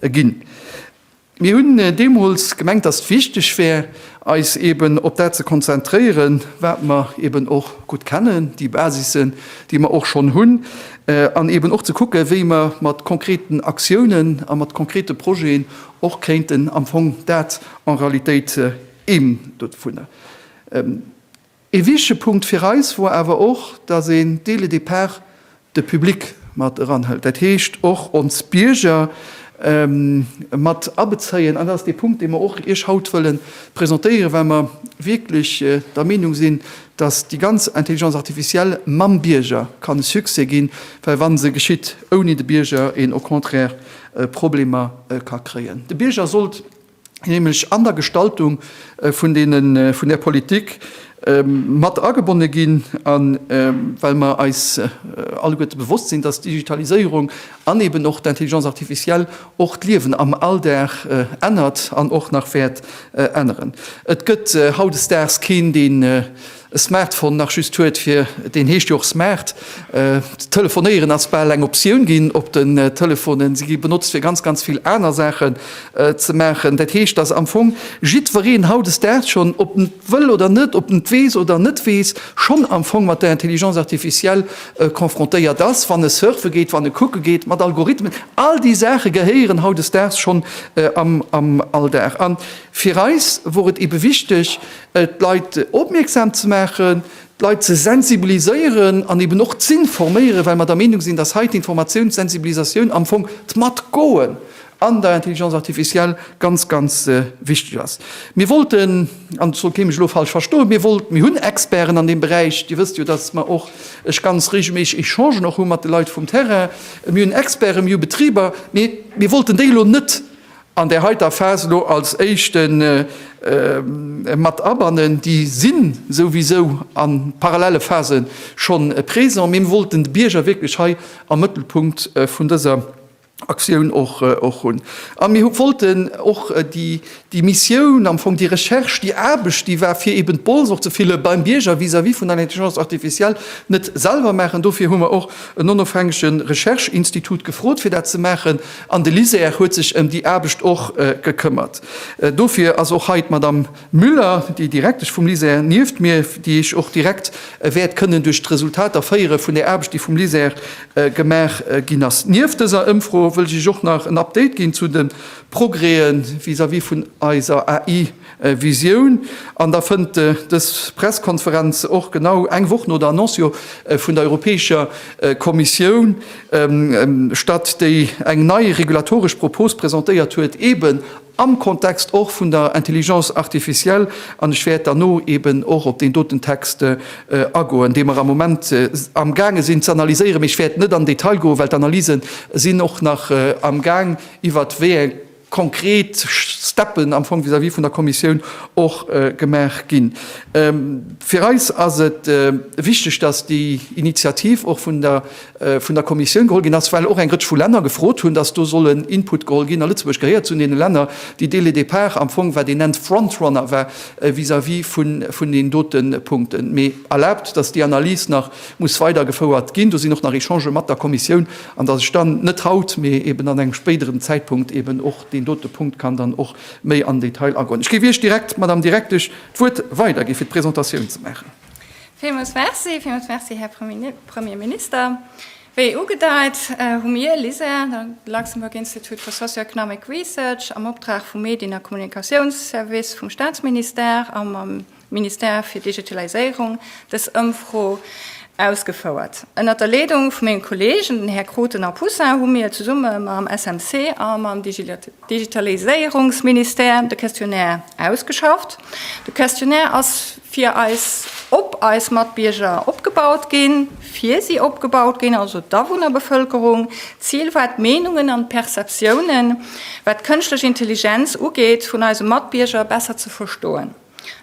Ginn. Mir hunn deemools gemengt, dass et wichteg wär, eis eeben op dat ze konzentréieren, wat mer eeben och gutt kennen, déi Basissen, déi mer och schonn hunn, an eeben och ze kucken, wéi mer mat konkreten Aktiounen a mat konkrete Projeten och kéinten am Fong dat en Realitéit émdodvunner Ee wichtege Punkt fir eis wor awer och, dass een dès le départ de Public mat eranhëlt, dat heescht och ons Bierger mat abezéien. An dat ass dee Punkt, dee mer och Iech haut wëlle presentéieren, well mer wierklech der Meenung sinn, dass déi ganz Intelligence artificielle mam Bierger kann e Succès ginn, well wa se geschitt ouni de Bierger, een au contraire Problemer ka kréien. De Bierger sollt nämlech an der Gestaltung vun där Politik, mat agebonne ginn. A well mer eis alleguerte bewosst sinn, dass d'Digitaliséierung an eben och d'Intelligence artificielle och d'Liewen am Alldag ännert an och nach wäert änneren. Et gëtt hautdesdaags keen, deen E Smartphone nach just huet, fir deen heescht jo och smart. D'Telefonéieren ass bal eng Optioun ginn op den Telefonen. Se gi benotzt, fir ganz, ganz vill aner Saachen ze maachen. Dat heescht, datt am Fong jiddwereen hautdesdaags schonn, ob en et wëll oder net, ob en et weess oder net weess, schonn am Fong mat der Intelligence artificielle confrontéiert ass, wann e surfe geet, wann e kucke geet, mat Algorithmen. All déi Saache gehéieren hautdesdaags schonn am Alldag. A fir eis wor et ebe wichteg, d'Leit opmierksam ze maachen, d'Leit ze sensibiliséieren an eben och z'informéieren, well mer der Meenung sinn, dass hei d'Informatioun, d'Sensibilisatioun am Fong, d'Matgoen an der Intelligence artificielle ganz, ganz wichteg ass. Mir wollten, an et soll kee mech elo falsch verstoen, mir wollt, mir hunn Experten an deem Beräich, Dir wësst jo, dass mer och, ech ganz reegelméisseg Echangen och hu mat de Leit vum Terrain, mir hunn Experten, mir hu Betriber, mee mir wollten déi elo net an där heiter Phas elo als éischte mat abannen, déi si souwisou a parallele Phase scho présent, mee mir wollten de Bierger wierklech hei am Mëttelpunkt vun dëser Aktioun och hunn. A mir wollten och déi Missioun, am Fong déi Recherche, déi Aarbecht, déi war, fir eeben d'Bols och ze fillen, beim Bierger vis-à-vis vun der Intelligence artificielle net selwer maachen. Dofir hu mer och en onofhängege Recherche-Institut gefrot, fir dat ze maachen. An de LISER huet sech ëm déi Aarbecht och gekëmmert. Dofir ass och hei d'Madamm Müller, déi Direktesch vum LISER, nieft mir, déi iech och direkt wäert kënnen duerch d'Resultater féiere vun där Aarbecht, déi vum LISER gemaach ginn ass. Nieft dëser Ëmfro wëll ech iech och nach en Update ginn zu de Progrèsen vis-à-vis vun eiser AI. Visioun. An da fënnt dës Presskonferenz och genau eng Woch no der Annonciou vun der Europäescher Kommissioun statt, déi eng nei regulatoresch Propos presentéiert huet, eben am Kontext och vun der Intelligence artificielle. An ech wäert derno eben och op deen doten Text agoen, dee mer am Moment amgaange sinn ze analyséieren. Mee ech wäert net an den Detail goen, well d'Analyse sinn och nach amgaang, iwwert wéi eng konkret Steppen am Fong vis-à-vis vun der Kommissioun och gemaach ginn. Fir eis ass et wichteg, dass déi Initiativ och vun der Kommissioun geholl ginn ass, well och eng Rëtsch vu Länner gefrot hunn, dass do soll en Input geholl ginn. A Lëtzebuerg gehéiert zu deene Länner, déi dès le départ am Fong, wat een nennt, Frontrunner war vis-à-vis vun den dote Punkten. Mee erlaabt, dass déi Analys nach muss weidergefouert ginn. Do sinn och nach Echangë mat der Kommissioun. an dass ech dann net haut, mee eeben an engem spéideren Zäitpunkt eeben och deen dote Punkt kann dann och méi am Detail agoen. Ech géif Iech direkt, Madame Direktesch, d'Wuert weidergi fir d'Presentatioun ze maachen. Villmools merci. Villmools merci, Här Premier Minister. Wéi ugedeit, hu mir, LISER, de Luxembourg Institute for Socio-Economic Research, am Optrag vum Medien a Kommunikatiounsservice vum Statsministère a mam, Ministère fir Digitaliséierung dës Ëmfro ausgefouert. Ënnert der Leedung vu menge Kollegen, den Här Crutten a Poussin, hu mir zesumme mam SMC a mam Digitaliséierungsministère de Questionnaire ausgeschafft. De Questionnaire ass fir eis, op eis Matbierger opgebaut ginn, fir si opgebaut ginn, also d'Awunnerbevëlkerung. D'Zil war, d'Meenungen an d'Perceptiounen, wat d'kënschtlech Intelligenz ugeet, vun eise Matbierger besser ze verstoen.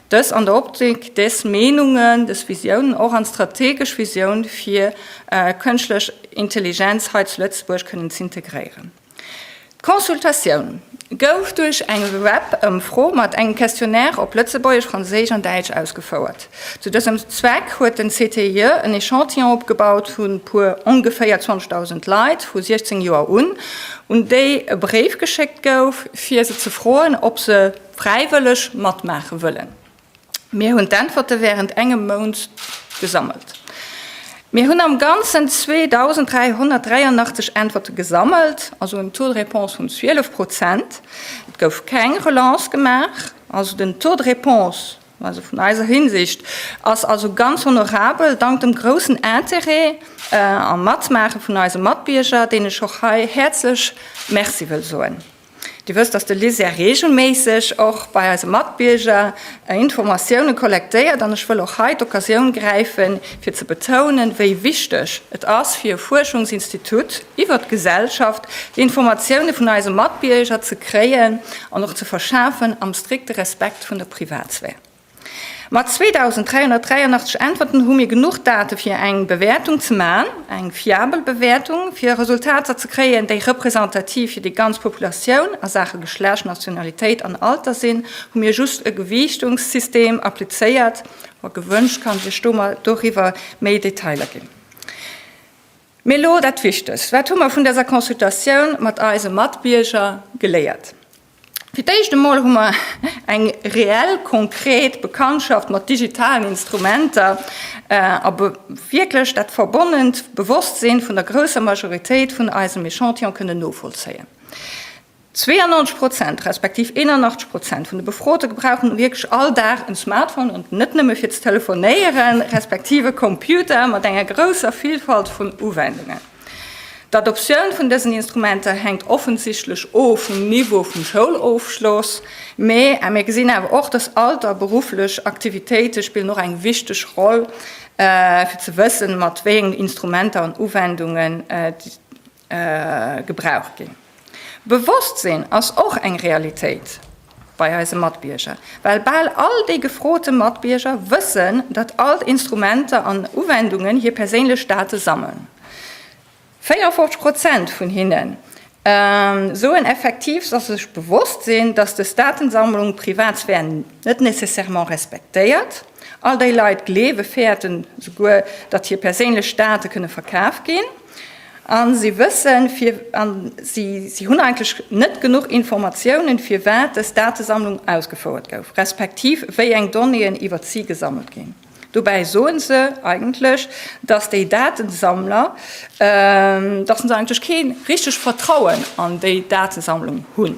Dës an der Optik, des Meenungen, des Visiounen och an strategesch Visioun fir kënschtlech Intelligenz hei zu Lëtzebuerg kënnen z'integréieren. D'Consultatioun gouf duerch eng Webëmfro mat engem Questionnaire op Lëtzebuergesch, Franséisch an Däitsch ausgefouert. Zu dësem Zweck huet den CTIE en Echantillon opgebaut vu puer ongeféier 20.000 Leit vu 16 Joer un, un déi e Bréif geschéckt gouf, fir se ze froen, ob se, Fräiwëlleg matmaache wëllen? Mir hunn d'Äntwerte wärend engem Mount gesammelt. Mir hunn am Ganzen 2.383 Äntwerte gesammelt, also en Taux de réponse vun 12 Prozent. Et gouf keng Relance gemaach, also den Taux de réponse, also vun eiser Hinsicht, ass also ganz honorabel, dank dem groussen Interêt a Matmaache vun eise Matbierger, deenen ech och hei häerzlech Merci wëll soen. Dir wësst, dass de LISER reegelméisseg och bei eise Matbierger Informatioune kollektéiert, an ech wëll och hei d'Occasioun gräifen, fir ze betounen, wéi wichteg et ass fir e Fuerschungsinstitut iwwert d'Gesellschaft, déi Informatioune vun eise Matbierger ze kréien an och ze verschafen, am strikte Respekt vun der Privatsphär. Mat 2.383 Äntwerten hu mir genuch Date fir eng Bewäertung ze maachen, eng fiabel Bewäertung, fir Resultater ze kréien, déi representativ fir déi ganz Populatioun a Saache Geschlecht, Nationalitéit an Alter sinn, hu mir just e Gewiichtungssystem applizéiert. Wa gewënscht, kann ech Iech do mol doriwwer méi Detailer ginn. Mee elo dat Wichtegst, Wat hu mer vun dëser Consultatioun mat eise Matbierger geléiert? Fir d'éischt emol hu mer eng reell, konkret Bekanntschaft mat digitalen Instrumenter a wierklech dat verbonnent Bewosstsinn vun der grousser Majoritéit vun eisem Echantillon kënnen novollzéien. 92 Prozent, respektiv 81 Prozent vun de Befrote gebrauchen wierklech all Dag en Smartphone, an net nëmme fir ze telefonéieren, respektiv e Computer mat enger grousser Villfalt vun Uwendungen. D'Adoptioun vun dësen Instrumenter hänkt offensichtlech o vum Niveau vum Schoulofschloss, mä mir gesinn awer och, dass Alter a berufflech Aktivitéite spillen och eng wichteg Roll, fir ze wëssen, mat wéi engen Instrumenter an Uwendungen gebraucht ginn. Bewosstsinn ass och eng Realitéit bei eise Matbierger, well bal all déi gefrote Matbierger wëssen, datt all d'Instrumenter an Uwendungen hir perséinlech Date sammeln. 54 Prozent vun hinne soen effektiv, datt se sech bewosst sinn, datt des Datensammlung d'Privatsphär net nécessairement respektéiert. All déi Leit gleewe fäerten souguer, datt hir perséinlech Date kënne verkaf ginn. A si wëssen, fir, a si hunn eigentlech net genuch Informatiounen, firwat dës Datesammlung ausgefouert gouf, respektiv wéi eng Donnéeën iwwert si gesammelt ginn. Dobäi soen se eigentlech, dass déi Datesammler, dass se eigentlech kee richteg Vertrauen an déi Datesammlung hunn.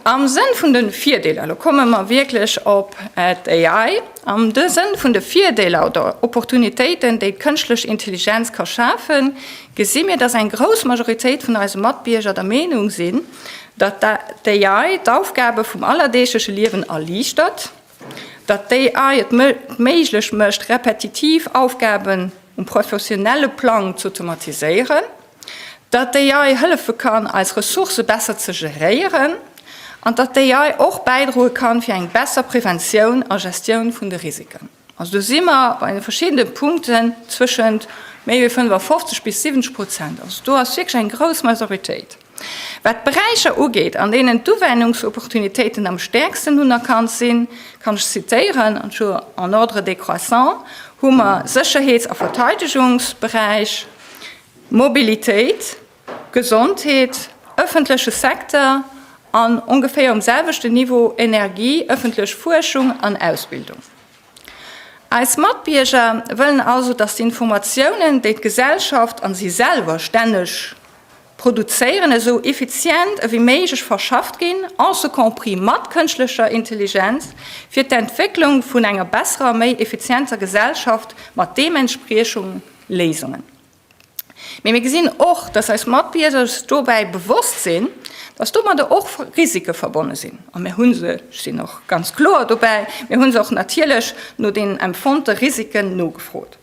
Am Sënn vun de Virdeeler, elo komme mer wierklech op d'AI, am Sënn vun de Virdeeler oder Opportunitéiten, déi d'kënschtlech Intelligenz ka schafen, gesi mir, datt eng grouss Majoritéit vun eise Matbierger der Meenung sinn, datt d'AI d'Aufgabe vum allerdeegleche Liewen erliichtert, datt d'AI et méiglech mécht, repetitiv Aufgaben um professionelle Plang z'automatiséieren. datt d'AI hëllefe kann, eis Ressourcë besser ze geréieren an datt d'AI och bäidroe kann, fir eng besser Preventioun a Gestioun vun de Risiken. Also do si mer bei de verschiddene Punkten zwëschent méi wéi 55 bis 70 Prozent. Also do ass wierklech eng grouss Majoritéit. Wat d'Beräicher ugeet, an deenen d'Uwennungsopportunitéiten am stäerksten unerkannt sinn, kann ech zitéieren, an zwar en ordre décroissant, hu mer Sécherheets a Verteidegungsberäich, Mobilitéit, Gesondheet, ëffentleche Secteur an, ongeféier um selwechten Niveau, Energie, ëffentlech Fuerschung an Ausbildung. Eis Matbierger wëllen also, datt d'Informatiounen, déi d'Gesellschaft an si selwer stänneg produzéieren, esou effizient ewéi méiglech verschafft ginn, en ce compris mat kënschtlecher Intelligenz, fir d'Entwécklung vun enger besserer, méi effizienter Gesellschaft mat deementspriechungen Léisungen. Mee mir gesinn och, dass eis Matbierger sech dobäi bewosst sinn, dass domadder och Risike verbonne sinn. A mir hu se, ech sinn och ganz kloer dobäi, mir hu se och natierlech no deenen empfonnte Risiken nogefrot.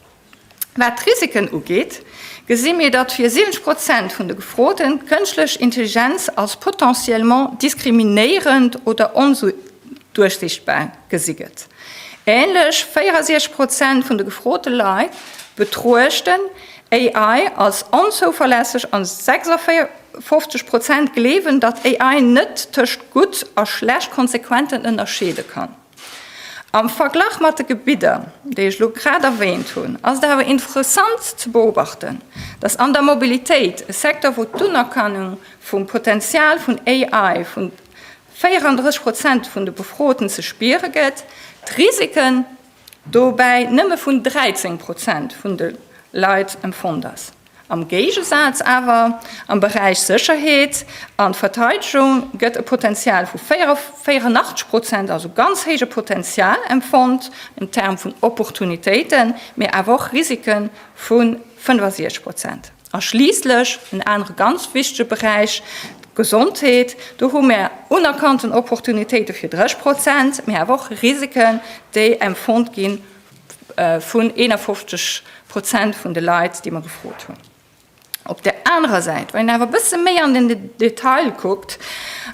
Wat d'Risiken ugeet, gesi mir, datt fir 70 Prozent vun de Gefroten d'kënschtlech Intelligenz als potentiellement diskriminéierend oder onduerchsichtbar gesi gëtt. Änlech 64 Prozent vun de gefrote Leit betruechten AI als onzouverlässeg an 56 Prozent gleewen, datt AI net tëscht gutt a schlecht Konsequenten ënnerscheede kann. Am Verglach mat de Gebidder, déi ech elo grad erwähnt hunn, ass et awer interessant ze beobachten, datt an der Mobilitéit, e Secteur wou d'Unerkennung vum Potenzial vun AI vun 34 Prozent vun de Befroten ze spiere gëtt, d'Risiken dobäi nëmme vun 13 Prozent vun de Leit empfonnt ass. Am Géigesaz awer, am Beräich Sécherheet an Verteidegung gëtt e Potenzial vu 84 Prozent, also ganz héije Potenzial, empfonnt, en termes vun Opportunitéiten, mee awer och Risiken, vu 65 Prozent. A schliisslech en anere ganz wichtege Beräich, d'Gesondheet. Do hu mir unerkannten Opportunitéite fir 30 Prozent, mee awer och Risiken, déi empfonnt gi vun 51 Prozent vun de Leit, déi mer gefrot hunn. Op där anerer Säit, wann een awer e bësse méi an den Detail kuckt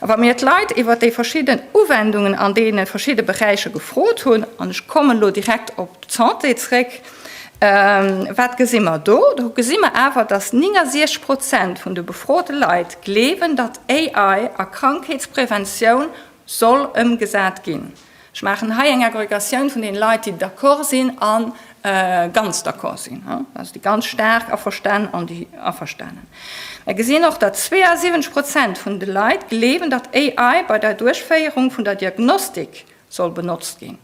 a wa mir d'Leit iwwer déi verschidden Uwendungen an deene verschidde Beräicher gefrot hunn, an ech kommen elo direkt op d'Santé zréck, Wat gesi mer do? Do gesi mer awer, datt 69 Prozent vun de befrote Leit gleewen, datt AI a Krankheetspreventioun soll ëmgesat ginn. Ech maachen hei eng Agregatioun vun deene Leit, déi d'accord sinn a ganz d'accord sinn, also déi ganz staark averstan an déi averstanen. Mer gesinn och, datt 72 Prozent vun de Leit gleewen, datt AI bei der Duerchféierung vun der Diagnostik soll benotzt ginn.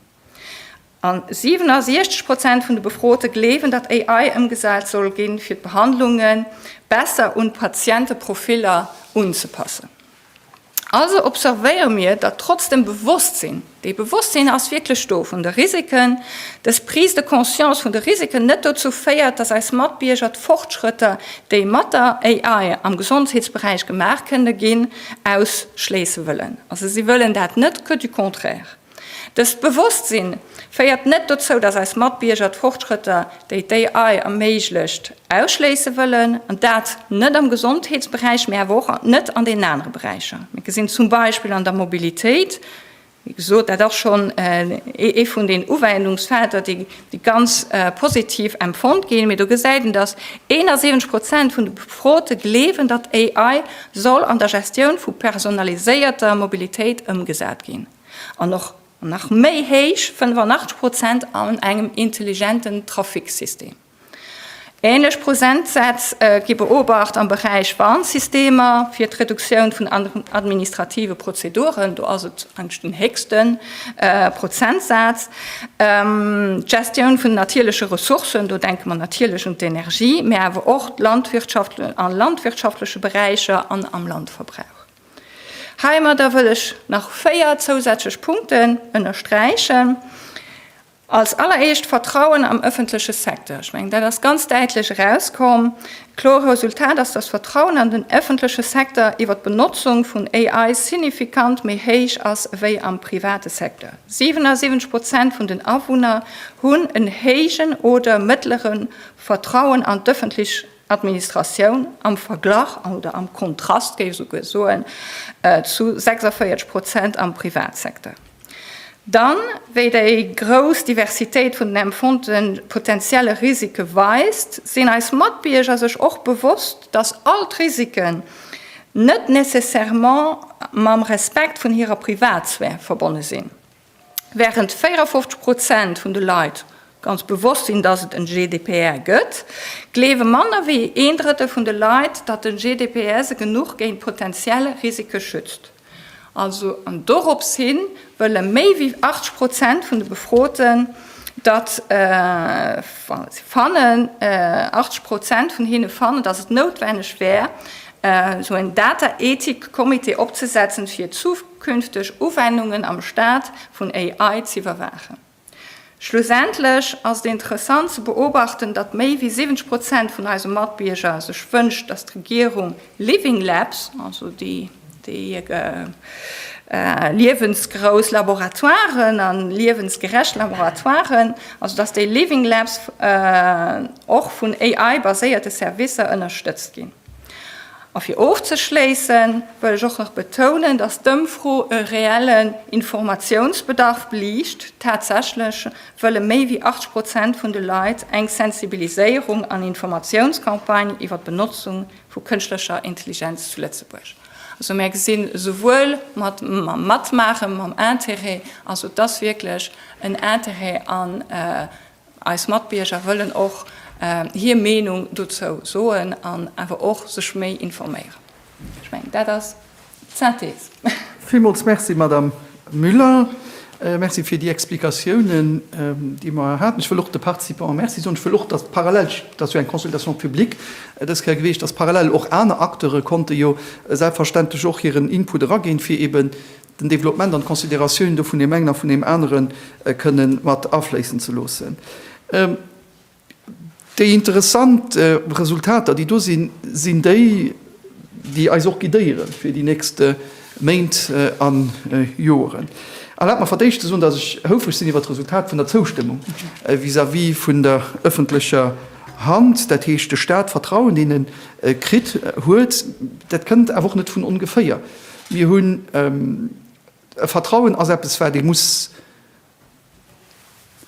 An 67 Prozent vun de Befrote gleewen, datt AI ëmgesat soll ginn, fir d'Behandlunge besser un d'Patienteprofiller unzepassen. Also observéiere mir, datt trotz dem Bewosstsinn, dee Bewosstsinn ass wierklech do, vun de Risiken, dës Prise de conscience vun de Risiken net dozou féiert, datt eis Matbierger d'Fortschrëtter, déi mat der AI am Gesondheetsberäich gemaach kënne ginn, ausschléisse wëllen. Also si wëllen dat net, que du contraire. Dëst Bewosstsinn féiert net dozou, dass eis Matbierger d'Fortschrëtter, déi d'AI erméiglecht, ausschléisse wëllen, an dat net am Gesondheetsberäich, mee awer och net an deenen anere Beräicher. Mir gesinn zum Beispill an der Mobilitéit, wéi gesot, dat ass schonn ee vun den Uwendungsfelder, déi ganz positiv empfonnt ginn, mee do gesäit een, dass 71 Prozent vun de Befrote gleewen, datt AI soll an der Gestioun vu personaliséierter Mobilitéit ëmgesat ginn. an och nach méi héich, 85 Prozent, an engem intelligenten Trafiksystem. Ähnlech Prozentsätz gi beobacht am Beräich Warnsystemer fir d'Reduktioun vun administrative Prozeduren, do ass et eigentlech den héchste Prozentsaz, d'Gestioun vun natierleche Ressourcen, do denke mer natierlech un d'Energie, mä awer och d'Landwirtschaft, a landwirtschaftleche Beräicher an am Landverbrauch. Heimadder wëll ech nach véier zousätzlech Punkten ënnersträichen. Als alleréischt d'Vertrauen am öffentleche Secteur. Ech mengen, dat ass ganz däitlech erauskomm. Kloer Resultat ass, dass d'Vertrauen an den öffentleche Secteur iwwert d'Benotzung vun AI signifikant méi héich ass ewéi am private Secteur. 77 Prozent vun den Awunner hunn en héijen oder mëttlere Vertrauen an d'öffentlech. Administratioun am Verglach oder am Kontrast, géif esou guer soen, zu 46 Prozent am Privatsecteur. Dann, wéi déi grouss Diversitéit vun den empfonnte potentielle Risike weist, sinn eis Matbierger sech och bewosst, datt all d'Risiken net nécessairement mam Respekt vun hirer Privatsphär verbonne sinn. Während 54 Prozent vun de Leit ganz bewosst sinn, datt et en GDPR gëtt, gleewe manner wéi een Drëttel vun de Leit, datt den GDPR se genuch géint potentiell Risike schützt. Also an dorops hi wëlle méi wéi 80 Prozent vun de Befroten, datt si fannen, 80 Prozent vun hinne fannen, datt et noutwenneg wär, esou en Dataethikcomité opzesetzen, fir künfteg Uwennungen am Staat vun AI z'iwwerwaachen. Schlussendlech ass et interessant ze beobachten, datt méi wéi 70 Prozent vun eise Matbierger sech wënscht, datt d'Regierung Living Labs, also déi liewensgrouss Laboratoiren a liewensgerecht Laboratoiren, also datt déi Living Labs och vun AI-baséierte Servicer ënnerstëtzt ginn. A fir ofzeschléissen, wëll ech och nach betounen, dass d'Ëmfro e reellen Informatiounsbedarf beliicht. Tatsächlech wëlle méi wéi 80 Prozent vun de Leit eng Sensibiliséierung an Informatiounscampagne iwwer d'Benotzung vu kënschtlecher Intelligenz zu Lëtzebuerg. Also mär gesi souwuel mat mam Matmaachen, mam Intérêt, also et ass wierklech en Intérêt an, Eis Matbierger wëllen och hir Meenung dozou soen an awer och sech méi informéieren. Ech mengen, dat ass d'Synthese. Villmools Merci, Madamm Müller. Merci fir déi Explikatiounen, déi mer hei haten. Ech wëll och de Participanten Merci soen. Ech wëll och, dass parallel, et ass jo eng Consultation publique dës Kéier gewiescht, dass parallel och aner Acteure konnte jo selbstverständlech och hiren Input eraginn, fir eben den Développement an d'Considératioun do vun deem engen a vun deem anere kënne mat afléissen ze loossen. Déi interessant Resultater, déi do sinn, sinn déi, déi eis och guidéiere fir déi nächst Méint a Joren. Erlaabt mer fir d'éischt ze soen, dass ech houfreg sinn iwwert d'Resultat vun der Zoustëmmung vis-à-vis vun der ëffentlecher Hand, dat heescht, de Stat d'Vertrauen deene kritt huet. Dat kënnt awer och net vun ongeféier. Mir hunn e Vertrauen ass eppes wat ee muss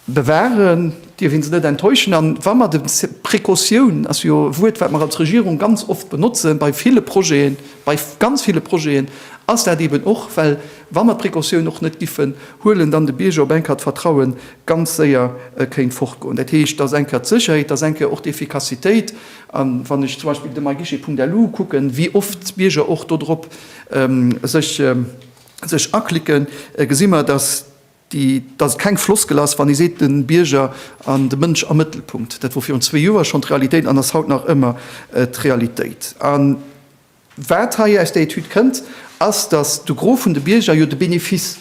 bewahren, dierf een se net enttäuschen. An wa mer de, Precautioun ass jo e Wuert wat mer als Regierung ganz oft benotzen bei ville Projeten, bei ganz ville Projeten ass dat eeben och, well wa mer d'Precautioun och net giffen huelen, dann de Bierger op eng Kéier d'Vertraue ganz séier kéint fortgoen. Dat heescht, dass eng Kéier d'Sécherheet, dass eng Kéier och d'Effikassitéit, A wann ech zum Beispill de myguichet.lu kucken, wéi oft d'Bierger och dodrop sech aklicken, gesi mer, dass et keng Floskel ass, wann ee seet, de Bierger an de Mënsch am Mëttelpunkt. Dat wor virun zwee Joer schonn d'Realitéit an ass haut nach ëmmer d'Realitéit. Wat hei aus der Etüd kënnt, ass, datt de Gros vun de Bierger jo de Benefice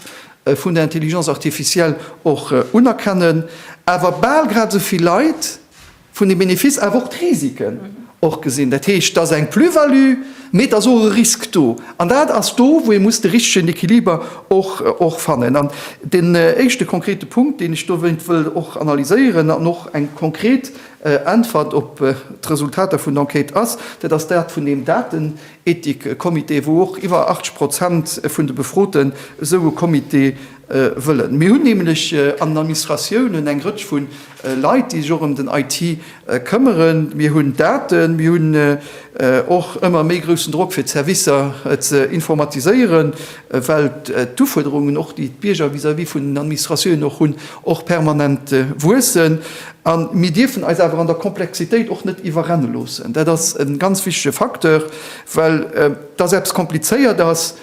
vun der Intelligence artificielle och unerkennen, awer bal grad esou vill Leit vun deem Benefice awer och d'Risiken och gesinn. Dat heescht, et ass eng Plus-value, mee et ass och e Risk do. An dat ass do, wou ee muss de richtegen Equiliber och fannen. An deen éischte konkrete Punkt, deen ech dowéint wëll och analyséieren an och eng konkret Äntwert op d'Resultater vun Enquête ass, dat ass dat vun deem Datenethikcomité, wou och iwwer 80 Prozent vun de Befroten esou e Comité wëllen. Mir hunn nämlech an den Administratiounen eng Rëtsch vu Leit, déi sech och ëm den IT këmmeren. Mir hunn Daten, mir hunn och ëmmer méi groussen Drock fir d'Servicer ze informatiséieren, well d'Ufuerderungen och, déi d'Bierger vis-à-vis vun den Administratiounen och hunn, och permanent wuessen a mir dierfen eis awer an der Komplexitéit och net iwwerrenne loossen. Dat ass e ganz wichtege Facteur, well dass eppes komplizéiert ass,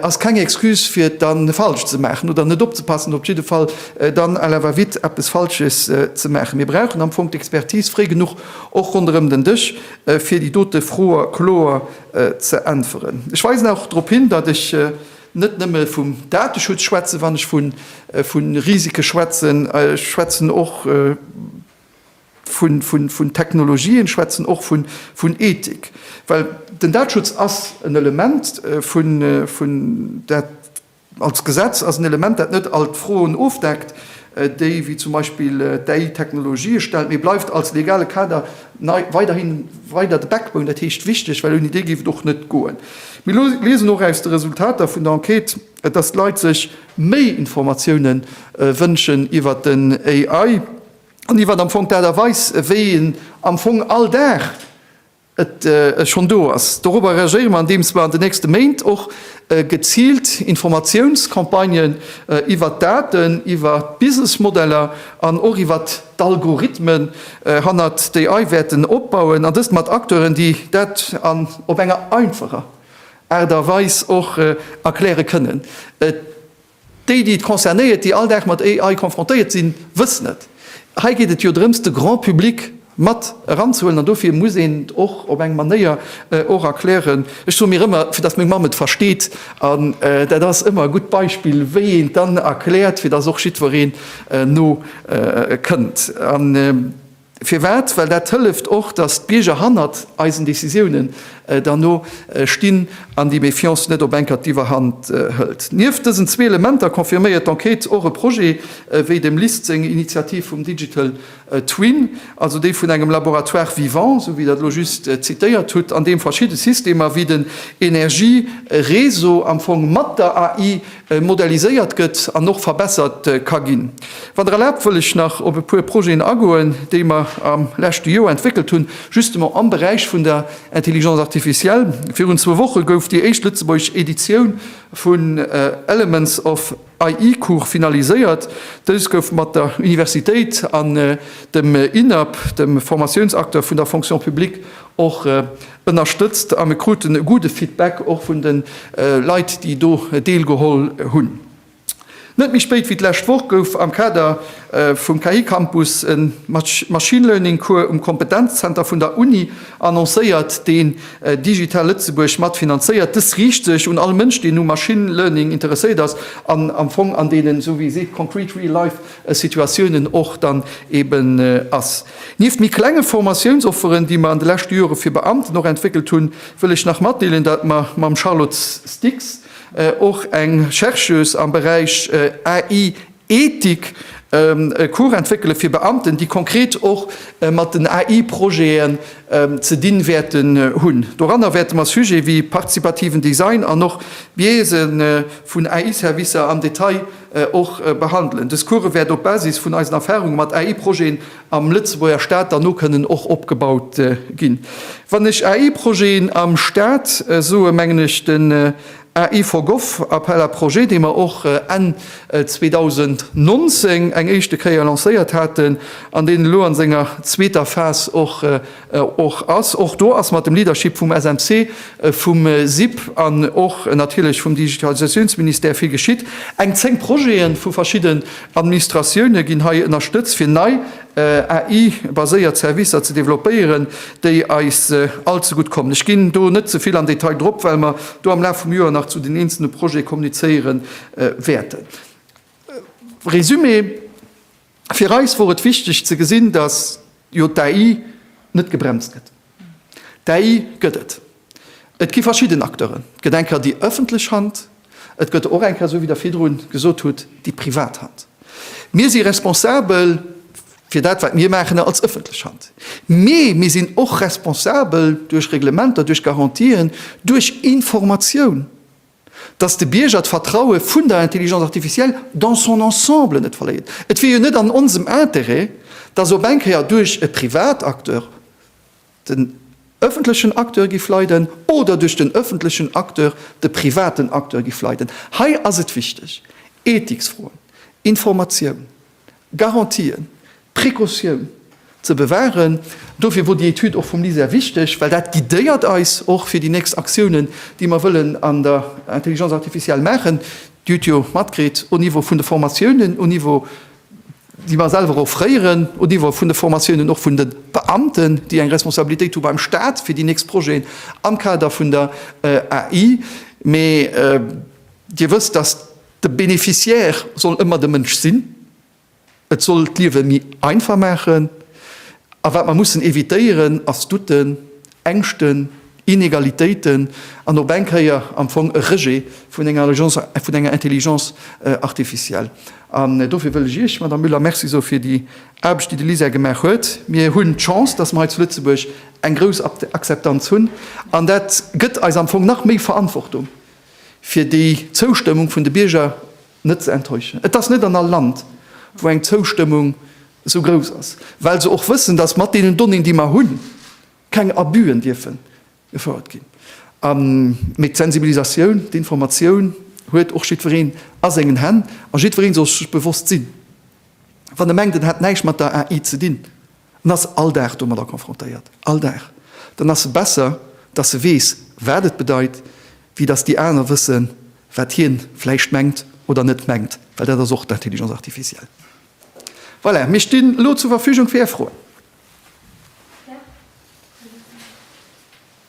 ass keng Excuse fir et dann falsch ze maachen oder net opzepassen, op jidde Fall dann à la va vite eppes Falsches ze maachen. Mir brauchen am Fong d'Expertise fréi genuch och ronderëm den Dësch, fir déi dote Froe kloer ze äntweren. Ech weisen och drop hin, datt ech, net nëmme vum Dateschutz schwätzen, wann ech vu Risike schwätzen, ech schwätzen och vun Technologien, ech schwätzen och vun Ethik. Well den Dateschutz ass en Element vun, dat als Gesetz ass en Element, dat net all d'Froen ofdeckt. déi wéi zum Beispill d'AI-Technologië stellt, mee bleift als legale Kader nei weiderhi weider de Backbone, dat heescht wichteg, well ouni dee géif et och net goen. Mir liesen och aus de Resultater vun der Enquête, dass d'Leit sech méi Informatiounen wënschen iwwert den AI an iwwert am Fong d'Aart a Weis, wéi en am Fong all Dag, et schonn do ass. Dorobber reagéiere mer, andeems mer an den nächste Méint och geziilt Informatiounscampagnen iwwert d'Daten, iwwert d'Businessmodeller an och iwwert d'Algorithmen hannert d'AI wäerten opbauen, an dëst mat Acteuren, déi dat op enger einfacher Aart a Weis och erkläre kënnen. Déi, déi et concernéiert, déi all Dag mat AI konfrontéiert sinn, wëssen et. Hei geet et jo drëms, de Grand public mat eranzehuelen an dofir muss een et och op eng Manéier och erklären, ech soe mir ëmmer, fir dass meng Mamm et versteet. An dat ass ëmmer e gutt Beispill, wéi een et dann erkläert, fir dass och jiddwereen no kënnt. Firwat? Well dat hëlleft och, datt d'Bierger hannert eisen Decisiounen dann o stinn an déi Méfiance net op Enker d'Iwwerhand hëlt. Nieft dësen zwee Elementer confirméiert d'Enquête och e Projet wéi dem LIST seng Initiativ vum Digital Twin, also déi vun engem Laboratoire vivant, esou wéi Der et elo just zitéiert hutt, an deem verschidde Systemer wéi den Energiereseau am Fong mat der AI moderniséiert gëtt an och verbessert ka ginn. Wann Der erlaabt, wëll ech nach op e puer Projeten agoen, déi mer am leschte Joer entwéckelt hunn, justement am Beräich vun der Intelligence artificielle. Virun zwou Woche gouf déi éischt lëtzebuergesch Editioun vun Elements of AI-Cours finaliséiert. Dës gouf mat der Universitéit an dem INAP, dem Formatiounsacteur vun der Fonction publique, och Ënnerstëtzt a mir kruten e gudde Feedback och vun de Leit, déi do deelgeholl hunn. Net méi spéit wéi d'lescht Woch gouf am Kader vum KI-Campus e Machine Learning Cours um Kompetenzzenter vun der Uni annoncéiert, deen Digital Lëtzebuerg mat finanzéiert. Dës riicht sech un all Mënsch, deen u Machine Learning interesséiert ass an am Fong an deenen, esou wéi ee seet, concrete real life Situatiounen och dann eeben ass. Nieft méi klenge Formatiounsofferen, déi mer an de leschte Jore fir Beamten och entwéckelt hunn, wëll ech nach matdeelen, datt mer mam Charlotte Stix och eng Chercheuse am Beräich AI Ethik e Cours entwéckele fir Beamten, déi konkret och mat den AI-Projeten ze dinn wäerten hunn. Doranner wäerte mer Sujete wéi participativen Design an och Biaise vun AI-Servicer am Detail och behandelen. Dës Courë wäert op Basis vun eisen Erfahrunge mat AI-Projeten am Lëtzebuerger Staat dann no kënnen och opgebaut ginn. Wann ech AI-Projeten am Staat soe mengen ech den AI for Gov Appel à projets, dee mer och Enn 2019 eng éischte Kéier lancéiert haten an deen elo an senger zweeter Phas och Och ass, och do ass mat dem Leadership vum SMC, vum SIP an och natierlech vum Digitalisatiounsministère vill geschitt. Eng 10 Projete vu verschidden Administratioune ginn hei ënnerstëtzt, fir nei AI-baséiert Servicer ze developpéieren, déi eis all ze gutt kommen. Ech ginn do net ze vill am Detail drop, well mer do am Laf vum Joer nach zu den eenzele Projete kommunizéiere wäerten. Résumé. Fir eis wor et wichteg ze gesinn, datt jo d'AI net gebremst gëtt. D'AI gëtt et. Et gi verschidden Acteuren. Et gëtt eng Kéier déi ëffentlech Hand, et gëtt der och eng Kéier, esou wéi Der virdru gesot hutt, déi privat Hand. Mir si responsabel fir dat, wat mir maachen als ëffentlech Hand. Mee mir sinn och responsabel duerch Reglementer, duerch Garantien, duerch Informatioun. dass de Bierger d'Vertraue vun der Intelligence artificielle dans son ensemble net verléiert. Et wier jo net an onsem Interêt, dass op eng Kéier duerch e Privatacteur den öffentlechen Acteur giff leiden oder duerch den öffentlechen Acteur de privaten Acteur giff leiden. Hei ass et wichteg, Ethiksfroen, Informatioun, Garantien, d'Precautioun ze bewahren. Dofir wor déi Etüd och vum LISER wichteg, well dat guidéiert eis och fir déi nächst Aktiounen, déi mer wëllen an der Intelligence artificielle maachen. Dir hutt jo matkritt, au Niveau vun de Formatiounen, au Niveau, déi mer selwer offréieren, au Niveau vun de Formatiounen och vun de Beamten, déi eng Responsabilitéit hu beim Stat fir déi nächst Projeten am Kader vun der AI. Mee Dir wësst, dass. De Bénéficiaire soll ëmmer de Mënsch sinn. Et soll d'Liewe méi einfach maachen. A wat mer mussen evitéieren, ass Douten, Ängschten, Inegalitéiten an op eng Kéier am Fong e Rejet vun enger Alliance, vun enger Intelligence artificielle. An dofir wëll ech Iech, Madame Müller, Merci soe fir déi Aarbecht, déi de LISER gemaach huet. Mir hunn d'Chance, dass mer hei zu Lëtzebuerg eng grouss Akzeptanz hunn. An dat gëtt eis am Fong nach méi Verantwortung, fir déi Zoustëmmung vun de Bierger net ze enttäuschen. Et ass net an all Land, wou eng Zoustëmmung esou grouss ass, well se och wëssen, dass mat deenen Donnéeën, déi mer hunn, keng Abus'en dierfe gefouert ginn. Mee d'Sensibilisatioun, d'Informatioun huet och jiddwereen a sengen Hänn a jiddweree soll sech bewosst sinn, Wann e mengt, en hätt näischt mat der AI ze dinn, en ass all Dag domadder confrontéiert, all Dag, dann ass e besser, dass e weess, wat et bedeit, wéi dass déi aner wëssen, wat hie vläicht mengt oder net mengt, well dat ass och d'Intelligence artificielle. Voilà, mir stinn elo zur Verfügung fir Är Froen.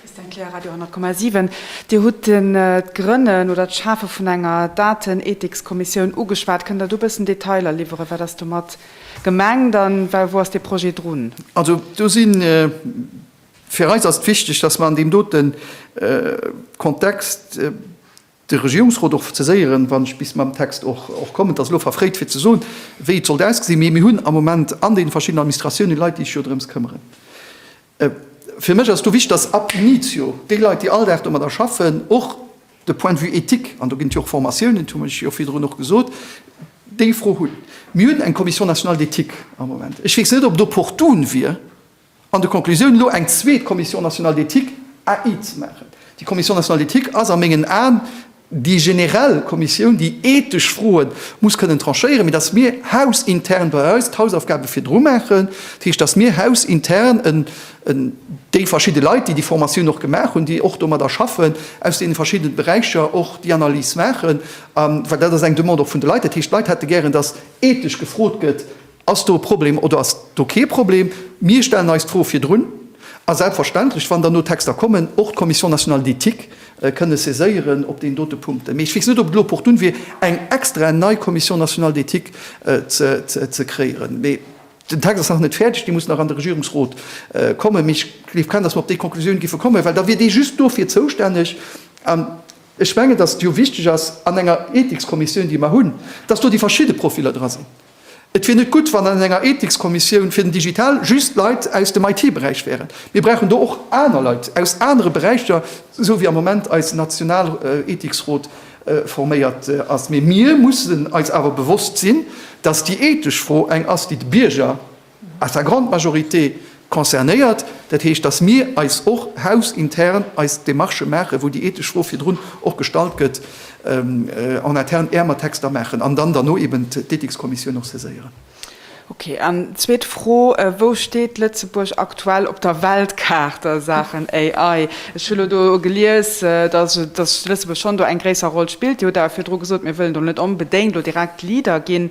Christiane Kleer, Radio 10,7. Dir hutt d'Grënnen oder d'Schafe vun enger Datenethikskommissioun ugeschwat. Kënnt Der do e bëssen Detailer liwweren, wat ass domat gemengt a wou ass dee Projet drun? Also do si fir eis ass et wichteg, datt mer an deem dote Kontext, de Regierungsrot och ze séieren, wann ech bis mam Text och kommen. Et ass elo verfréit fir ze soen, wéi et sollt ausgesinn, mee mir hunn am Moment an deene verschiddenen Administratiounen Leit, déi sech jo drëms këmmeren. Fir mech ass do wichtig, dass ab initio déi Leit, déi all Dag domadder schaffen, och de Point de vue éthique, an do ginn et jo och Formatiounen, dat hu mer jo virdrun och gesot, déi Fro hunn. Mir hunn eng Commission nationale d'éthique am Moment. Ech weess net, ob et opportun wier, An de Conclusiounen elo eng zweet Commission nationale d'éthique, AI, ze maachen. Déi Commission nationale d'éthique ass a mengen Aen déi generell Kommissioun, déi ethesch Froe muss kënnen tranchéieren, mee datt mir hausintern bei eis d'Hausaufgabe virdru maachen, dat heescht, datt mir hausintern déi verschidde Leit, déi déi Formatioun och gemaach hunn, déi och domadder schaffen, aus deene verschidde Beräicher och déi Analys maachen, well dat ass eng Demande och vun de Leit. Dat heescht, d'Leit hätte gären, datt ethesch gefrot gëtt, Ass do e Problem oder ass do kee Problem? Mir stellen eis d'Fro virdrun. A selbstverständlech, wann dann do Texter kommen, och d'Commission nationale d'éthique kënne saiséieren op deen dote Punkt. Mee ech weess net, ob et elo opportun wier, eng extra nei Commission nationale d'éthique ze kreéieren. Mee den Text ass nach net fäerdeg, dee muss nach an de Regierungsrot kommen. Mee ech gleef kaum, dass mer op déi Konklusioun géife kommen, well da wier dee just dofir zoustänneg. An ech mengen, dass et jo wichteg ass an enger Ethikskommissioun, déi mer hunn, dass do déi verschidde Profiller dra sinn. Et wier net gutt, wann an enger Ethikskommissioun fir den Digital just Leit aus dem IT-Beräich wären. Mir brauchen do och aner Leit aus anere Beräicher, esou wéi am Moment eis national Ethiksrot forméiert ass. Mee mir mussen eis awer bewosst sinn, datt déi ethesch Fro eng ass, déi de Bierger à sa grande majorité, concernéiert. Dat heescht, dass mir eis och hausintern eis Demarchë maachen, wou déi ethesch Fro virdrun och gestallt gëtt, en interne äermer Texter maachen an dann derno eben d'Ethikskommissioun och saiséieren. Okay. An zweet Fro, Wou steet Lëtzebuerg aktuell op der Weltkaart a Saachen AI? Ech hu lo do gelies, dass Lëtzebuerg schonn do eng gréisser Roll spillt. Dir hutt awer virdru gesot, Mir wëllen do net onbedéngt lo direkt Leader ginn.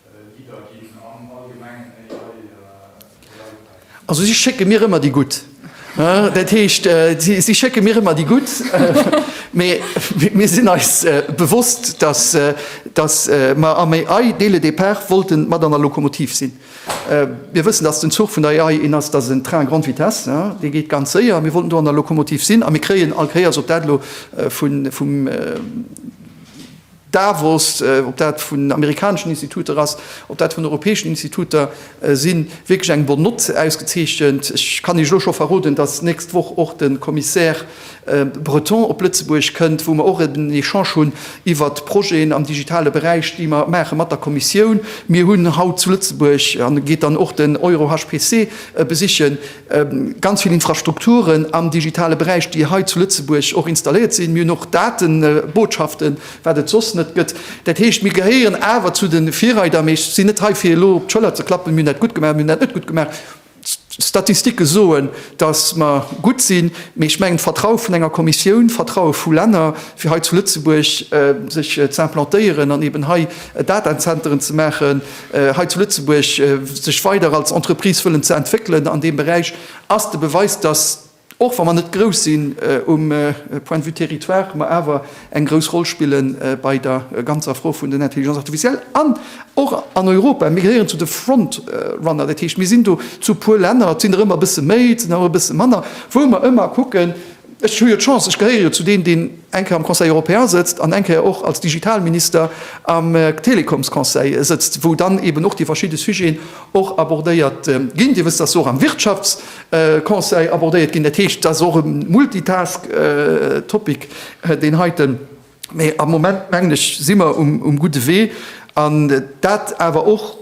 Also si schécke mir ëmmer déi gutt. Dat heescht, si schécke mir ëmmer déi gutt. Mee mir sinn eis bewosst, datt mer am AI, dès le départ, wollte mat an der Lokomotiv sinn. Mir wëssen, datt den Zuch vun der AI een ass, dat ass en Train à grande vitesse, dee geet ganz séier. A mir wollten do an der Lokomotiv sinn. A mir kréien all Kéiers, ob dat elo vum Davos, ob dat vun amerikaneschen Instituter ass, ob dat vun europäeschen Instituter sinn, wierklech eng Bonne note ausgezeechent. Ech kann Iech elo scho verroden, datt nächst Woch och de Commissaire Breton op Lëtzebuerg kënnt, wou mer och en Echange hunn iwwert d'Projeten am digitale Beräich, déi mer maache mat der Kommissioun. Mir hunn haut zu Lëtzebuerg, an e geet dann och den EuroHPC besichen, Ganz vill Infrastrukturen am digitale Beräich, déi hei zu Lëtzebuerg och installéiert sinn. Mir hunn och Datenbotschaften, wat et soss net gëtt. Dat heescht, mir gehéieren awer zu de Virreider. Mee ech sinn net hei, fir elo op d'Schëller ze klappen, mir hunn dat gutt gemaach, mir hunn dat net gutt gemaach. D'Statistike soen, datt mer gutt sinn. Mee ech mengen, d'Vertraue vun enger Kommissioun, d'Vertraue vu Länner, fir hei zu Lëtzebuerg sech ze implantéieren an eeben hei Datazenteren ze maachen, hei zu Lëtzebuerg sech weider als Entreprise wëllen ze entwéckelen an deem Beräich, ass de Beweis, datt, och wa mer net grouss sinn um Point de vue Territoire, mer awer eng grouss Roll spille bei der ganzer Fro vun den Intelligence artificielle an och an Europa. Mir gehéieren zu de Frontrunner, dat heescht, mir sinn do zu e puer Länner, et sinn der ëmmer e bësse méi, et sinn der och e bësse manner, wou mer ëmmer kucken, Ech hu jo d'Chance, ech gehéiere jo zu deenen, deen eng Kéier am Conseil européen sëtzt an eng Kéier och als Digitalminister am Telekomsconseil sëtzt, wou dann eeben och déi verschidde Sujeten och abordéiert ginn. Dir wësst, dass se och am Wirtschaftsconseil abordéiert ginn. Dat heescht, et ass och e Multitask Topic, deen heiten. Mä am Moment, mengen ech, si mer um gudde Wee, an dat awer och,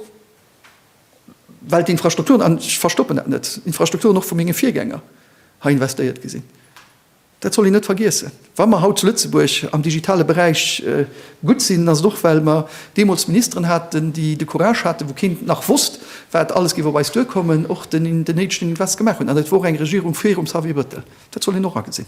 well d'Infrastrukturen, an ech verstoppen dat net, d'Infrastrukturen och vu menge Virgänger hei investéiert gi sinn, dat soll een net vergiessen. Wa mer haut zu Lëtzebuerg am digitale Beräich gutt sinn, ass et och well mer deemools Ministeren haten, déi de Courage haten, wou keen nach wosst, wat alles géif op eis duerkommen, och den néidegen Invest gemaach hunn. An et wor och eng Regierung virum Xavier Bettel. Dat soll een och agesinn.